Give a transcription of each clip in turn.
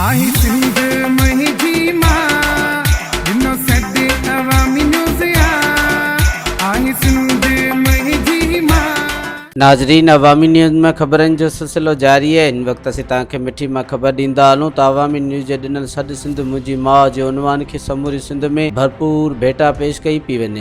آهي سنڌ مهي جي مان هن سڏ عوامي نيوز آ آهي سنڌ مهي جي مان. ناظرين عوامي نيوز ۾ خبرن جو سلسلو جاري آهي هن وقت اسين توهان کي مٺي مان خبر ڏيندا هلون ته عوامي نيوز جي ڏنل سڏ سنڌ منهنجي ماء جي عنوان کي سموري سنڌ ۾ ڀرپور ڀيٽا پيش ڪئي پئي وڃي.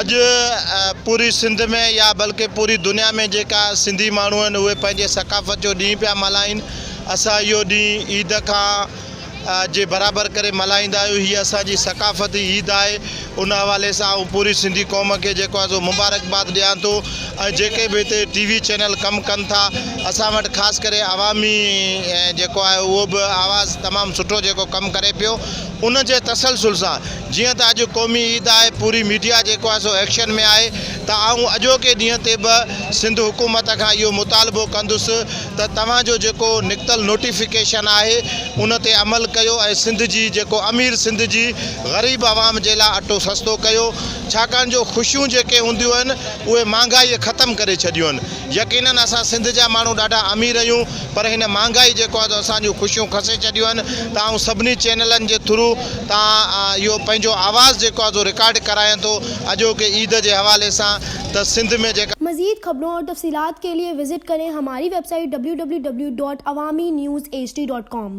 اڄ پوري سنڌ ۾ يا بلڪه پوري دنيا ۾ جيڪا سنڌي ماڻهو آهن اهي پنهنجي ثقافت جو ڏينهن پيا ملهائين اسان اهو ڏينهن عيد کان جي برابر ڪري ملهائيندا آهيون هي اسان جي ثقافتي عيد آهي ان حوالي سان آئون پوري سنڌي قوم کي جيڪو آهي سو مبارڪباد ڏيان ٿو ۽ جيڪي به هتي ٽي وي چينل ڪم ڪن ٿا اسان وٽ خاص ڪري عوامي جيڪو آهي اهو به آواز تمام سٺو جيڪو ڪم ڪري پيو ان جي تسلسل سان جيئن ته اڄ قومي عيد آهي پوري ميڊيا جيڪو آهي سو ايڪشن ۾ آهي ته آئون اڄوڪي ڏينهن تي به سنڌ حڪومت کان اهو مطالبو ڪندس ته توهان جو جيڪو نڪتل نوٽيفڪيشن آهي ان تي عمل ڪيو ۽ سنڌ جي جيڪو امير سنڌ جي غريب عوام جي لاء اٽو سستو ڪيو ڇاڪاڻ جو خوشيون جيڪي هونديون آهن اهي مهانگائي ختم ڪري ڇڏيون آهن يقينن اسان سنڌ جا ماڻهو ڏاڍا امير اهيون پر هن مهانگائي جيڪو آهي سو اسان جون خوشيون کسي ڇڏيون آهن ته آئون سڀني چينلن جي ٿرو تان اهو پنهنجو آواز جيڪو آهي سو رڪارڊ ڪرايان ٿو اڄوڪي عيد جي حوالي سان ته سنڌ ۾ جيڪا مزيد خبرون اور تفصيلات ڪي لئي وزٽ ڪرين هماري ويب سائيٽ www.awaminews hd.com.